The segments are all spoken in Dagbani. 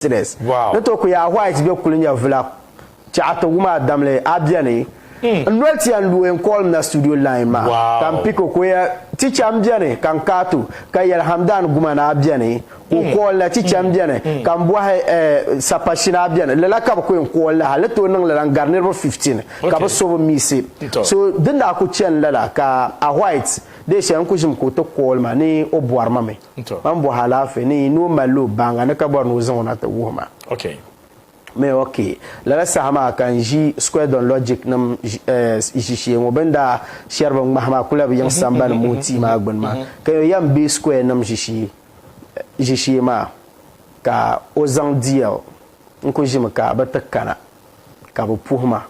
business ni to ku yaa white be kuli nya vila chɛɣa ti wum a damli a beni n noli tiya n luhi n call m na studio line maa ka m pick o ka o ya teacher m beni ka n kaat o ka yɛli Hamdan Guman a beni ka o call na teacher m beni ka m bɔhi eh Sapashina a beni lala ka bɛ ku yɛn call na hali tooi niŋ lala n gari niriba 15 ka bɛ so bi miisi so din daa ku chani lala ka a white dee shɛli n ku ʒim ka o ti call ma ni o bɔri ma mi. Mam bɔhi alaafee ni yi ni o malli o baaŋa ni ka bɔri ni o zaŋ o na ti wuhi ma. Mɛ, OK. Lala saha maa ka n ʒi Square Don Logic nim ʒishee ŋɔ. Bɛ ni daa shɛri bin ŋmahi maa kula bi yiŋ sambani muhi tia maa gbini maa. Ka yo yɛm be Square nim ʒishee maa ka o zaŋ DL n-ku ʒimi ka bɛ ti kana ka bɛ puhi ma.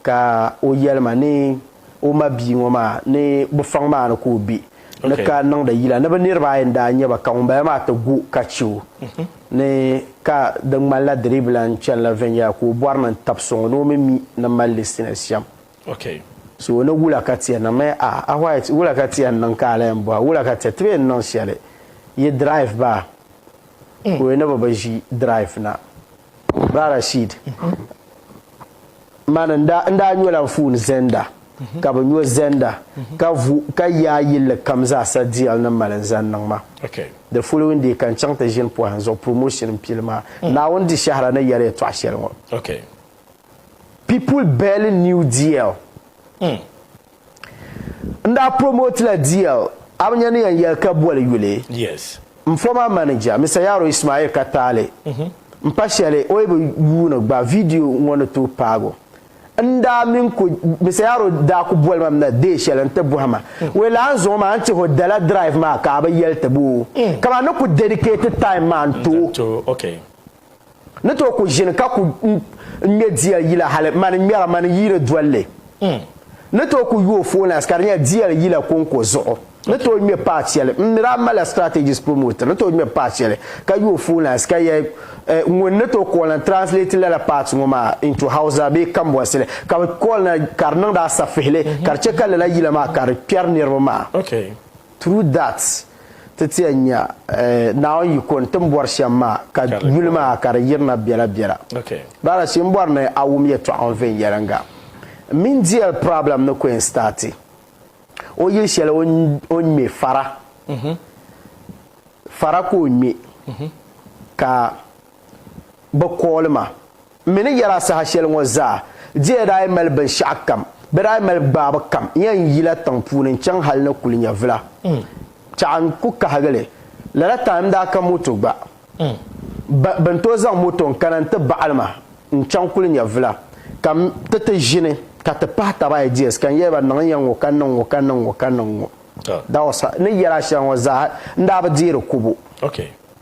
Ka o yɛli ma ni o ma bia ŋɔ maa ni bɛ faŋ maa ni ka o be ni ka niŋdi yila ni bɛ niriba ayi n-daa nyɛ ba ka ŋumbala maa ti gu ka che o ni ka di ŋmanila di dii bi lan chani la viɛnyɛla ka o bɔri ni n-tab so ŋɔ ni o mi mi ni mali li sina shɛm. So ni wula ka ti yɛn niŋ? Mɛ, A, a White, wula ka ti yɛn niŋ ka a lan yɛn bɔra? Wula ka ti, ti bi yɛn niŋ shɛli. Yi drive ba, ka o yi ni bi bi ʒi drive na. Bra Rashid, Mani n daa nyola anfooni zenda ka bi nyo zenda ka vu ka yaa yilli kam zaa sa deal ni mali n zani niŋ ma. The following day ka n chaŋ ti ʒini pohin zuɣu promotion n pili maa. Naawuni di shɛhira ni yɛli yɛtɔɣa shɛli ŋɔ. People barely knew DL. N daa promote la DL Abnya ni yan yɛli ka boli yuli. Yes. M former manager Mister Yaro Ismail ka taali m pa shɛli o yi bi yuuni gba video ŋɔ ni tooi paag o. N daa min ku Mister Yaro daa ku boli ma m na day shɛli n ti bɔhi ma wee la a ni zaŋ o maa n tih o dala drive maa ka a bi yɛli ti bo o ka ma ni ku dedicate time maa n to o. ni tooi ku ʒini ka ku ŋmɛ diɛl yila hali mani ŋmɛra mani yiini dolli hmm. ni tooi ku yuo foolines ka di nyɛla diɛl yila kɔŋko zuɣu ni tooi ŋmɛ paɣa shɛli n ni daa malila strategies promoter ni tooi ŋmɛ paɣa shɛli ka yuo foolines ka yɛ eh, ŋun ni tooi kɔɔlina translate lala part ŋɔ maa into hausa bee kambɔnsili ka bi kɔɔlina ka di niŋdi asafihili ka di chɛ ka lala yila maa ka di kpɛri niriba maa True that ti ti yɛn nya Naawuni yiko n tim bɔri shɛm maa ka yuli maa ka di yirina biɛla biɛla. Rather shee n bɔri ni a wum yɛtɔɣa ŋɔ viɛnyɛliŋga m mini DL problem ni ku yɛn starti o yili shɛli o ni ŋme fara fara ka o ŋme ka bɛ kooli ma. M mi ni yɛl a saha shɛli ŋɔ zaa, di yɛn daa yi mali binshɛɣu kam, bɛ daa yi mali gbaabu kam, n yɛn yi la tiŋ puuni n-chaŋ hal ni kuli nyɛvila. Tɛɣu n ku kahigi li. Lala time n-daa ka moto gba. Bɛ bɛ ni tooi zaŋ moto n-kana nti baɣili ma n-chaŋ kuli nyɛvila, ka m ti ti ʒini ka ti pahi taba ideas ka n yɛli ba niŋ n ya ŋ-ŋɔ ka niŋ ŋ-ŋɔ ka niŋ ŋ-ŋɔ ka niŋ ŋ-ŋɔ. That was how, ni yɛl a shɛli ŋɔ zaa n daa bi deeri kubu. Okay.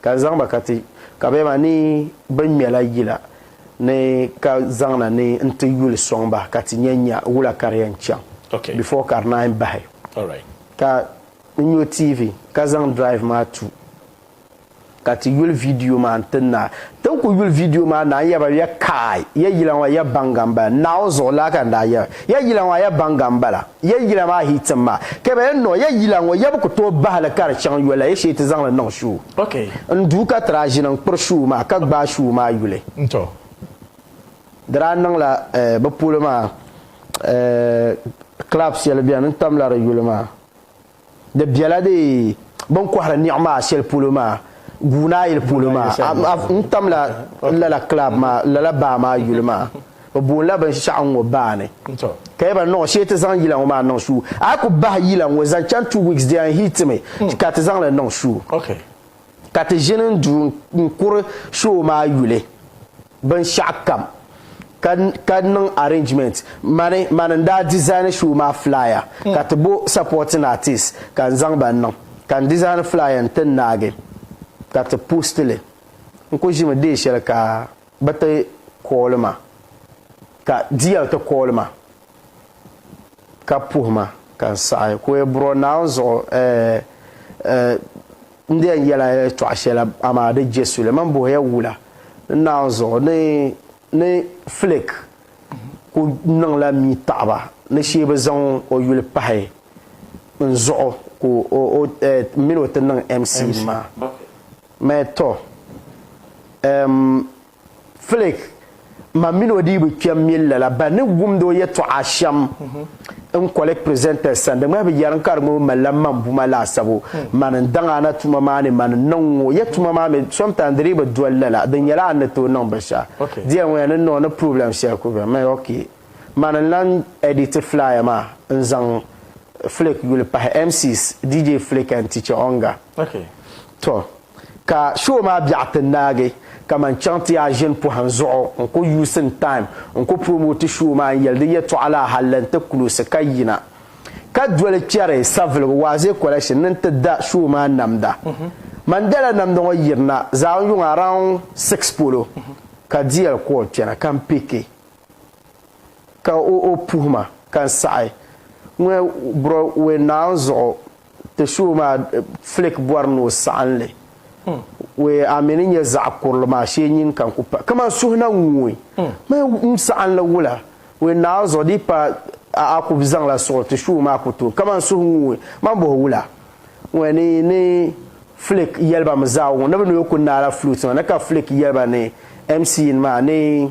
Ka n zaŋ ba ka ti ka bɛ maa ni bɛ ŋmɛla yila ni ka zaŋ na ni n ti yuli sɔŋ ba ka ti nya nya wula ka di yɛn chaŋ before ka di naan bahi. Ka n nyo TV ka zaŋ drive maa tu ka ti yuli video maa n ti naai. Tin ku yuli video maa naai n yaba ya kaai ya yila ŋɔ ya baŋga m-bala. Naawuni zuɣu laa ka n daa yaba ya yila ŋɔ a ya baŋga m-bala. Ya yila maa hii tim ma. Ka bɛ yɛn niŋ ya yila ŋɔ ya bi ku tooi bahi li ka di chaŋ yola ya shee ti zaŋ li niŋ shuu. N duu ka ti daa ʒini n-kpiri shuu maa ka gbaai shuu maa yuli. Di daa niŋla bɛ polo maa club shɛli beni n-tamla di yuli maa. Di bela di bini kɔhiri niɣi maa shɛli polo maa, Guunaayili polo maa. N tamla lala club maa, lala baa maa yuli maa. Bɛ boonila binshɛɣu ŋ-ŋɔ baa ni. Ka yɛli ba, Niŋ shee ti zaŋ yila ŋɔ maa niŋ shuu. A yi ku bahi yila ŋ-ŋɔ zaŋ chaŋ two weeks di yɛn hiitimi ka ti zaŋ li niŋ shuu. ka ti ʒini n-du n-kuri show maa yuli binshɛɣukam ka ka niŋ arrangement mani mani n-daa design show maa flyer ka ti bo supporting artists ka n-zaŋ ba n-niŋ ka n-design flyer n-ti n naagi ka ti post li n kuli ʒimi day shɛli ka bɛ ti call ma ka DL ti call ma ka puhi ma ka n saɣi ku e buro Naawuni zuɣu, ɛɛ, ɛɛ, n di yɛn yɛla yɛltɔɣa shɛli, amaa di je suli. Mani buhi ya wula n Naawuni zuɣu ni, ni Flick ku niŋla mii taɣi ba ni shee bɛ zaŋ o yuli pahi n zuɣu ka o, o, ɛɛ, m mini o ti niŋ MC nima? Mani, Tɔ, ɛɛm, Flick, Mam mini o dii bi kpɛm mil lala ba ni wumd o yɛtɔɣa shɛm n kɔli presenters sani. Di ŋmahi bi yɛri n ka di ŋɔ bi malila mambuma laasabu. Man n daŋ a na tuma maa ni man n niŋ ŋɔ ya tuma maa mi sometimes di dii bi doli lala. Di nyɛla a ni tooi niŋ binshɛɣu. Dear ŋɔ ya ni niŋ o ni problem shɛli ku bɛ mi. Ok, man n lan edit flyer maa n zaŋ Flick yuli pahi MCs, DJ Flick and Teacher Onga. Tɔ! Ka show maa biɛɣu ti naagi ka man chaŋ ti yaa ʒini pɔhim zuɣu n ku using time n ku promote show maa n yɛli di yɛtɔɣa la halli n ti close ka yina ka doli chɛri Saviligu Waaze Collection ni n ti da show maa namda. Man dala namda ŋɔ yirina Zaawun yuŋ around six polo ka DL call kpɛna ka n pick ka o puhi ma ka n saɣi ŋ-ŋ bro we Naawuni zuɣu Ti suhu maa flake bɔri ni o saɣin li wee a mi ni nyɛ zaɣ kurili maa shee nyin ka n ku pa kaman suhu na ŋui mi n saɣin li wula wee naai zuɣu di pa a a ku zaŋla suɣu ti suhu maa ku tooi kaman suhu ŋui man bɔhi wula wee ni ni flake yɛliba mi zaa wuŋ ni bi ni yo ku naala flute maa ni ka flake yɛliba ni mc yin maa ni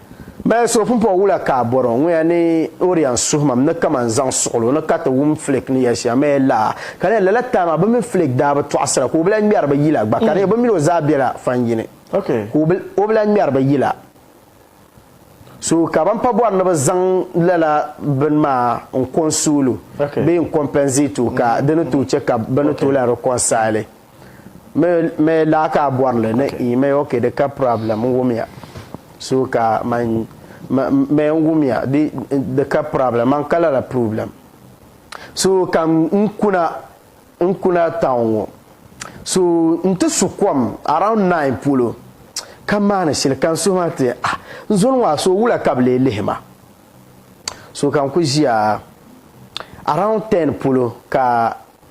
Mali suhupumpɔŋ wula ka a bɔri o ŋuya ni o di yan suhi mam ni kaman zaŋ suɣili o ni ka ti wum Flake ni yɛli shɛm maa laa? Ka di nyɛla lala time maa bɛ mini Flake daa bi tɔɣisira ka o bi lahi ŋmɛri bɛ yila gba ka di nyɛla bɛ mini o zaa bela fan yini ka o bi lahi ŋmɛri bɛ yila so ka ban pa bɔri ni bɛ zaŋ lala bini maa n-consuel o bee n-compensate o ka di ni tooi chɛ ka bɛ ni tooi lahi reconcile. Me daa ka a bɔri li ni i me ok di ka problem n wumya so ka man me n wumya di di ka problem man ka lala problem so ka n kuna n kuna town ŋɔ so n ti su kom around nine polo ka maani shili ka n suhu ma ti ah n zoli ŋɔ a so wula ka bi lee lihi ma so ka n ku ʒiya around ten polo ka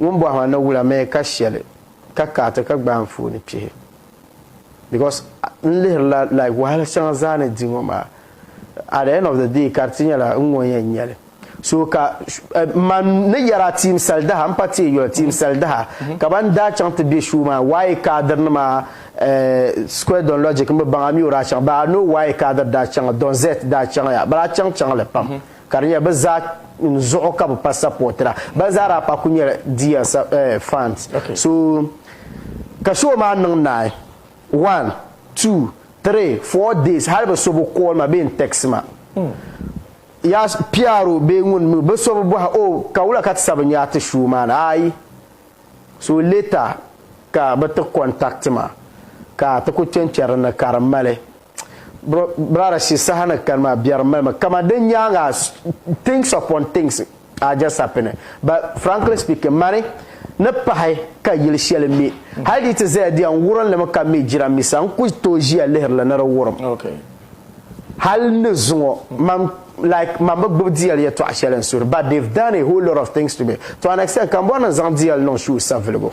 Ŋun bɔhi maa na wula mi ka shɛli ka ka ti ka gbaai anfooni pihi because n lihiri la like wahala shɛŋa zaa ni di ŋɔ maa at the end of the day ka di ti nyɛla n ŋɔ yɛn nyɛli so ka m ma ni yɛri a team salidaha m pa teei yoli team salidaha ka ban daa chaŋ ti be show maa waaye kaadir nima square don logic m bi baŋ a mi o daa chaŋ but I know waaye kaadir daa chaŋ don zet daa chaŋ ya bala a chaŋ chaŋ li pam. Ka di nyɛla bɛ zaa zuɣu ka bɛ pa sapɔtira. Ban zaa daa pa kuli nyɛla Diya fans. So ka show maa niŋ naai, one, two, three, four days hali bɛ so bi call ma bee n text ma. Yaa PRO bee ŋun mi o bɛ so bi bɔhi oh ka wula ka ti sa binyɛra ti show maa ni ayi. So later ka bɛ ti contact ma ka ti kuli kpenkperi dinni ka di mali. Brother shi saha ni kani maa biɛri m-mali ma kaman di nyaaŋa things upon things are just happening but frankly speaking mani ni pahi ka yili shɛli me hali di yi ti zaya di yɛn wurim li mi ka me jirambisa n ku tooi ʒiya lihiri li ni di wurim hali n ni zuŋɔ mam like mam bi gbubi DL yɛtɔɣ shɛli n suhiri but they've done a whole lot of things to me to an extent ka m bɔri ni n zaŋ DL niŋ show saviligu.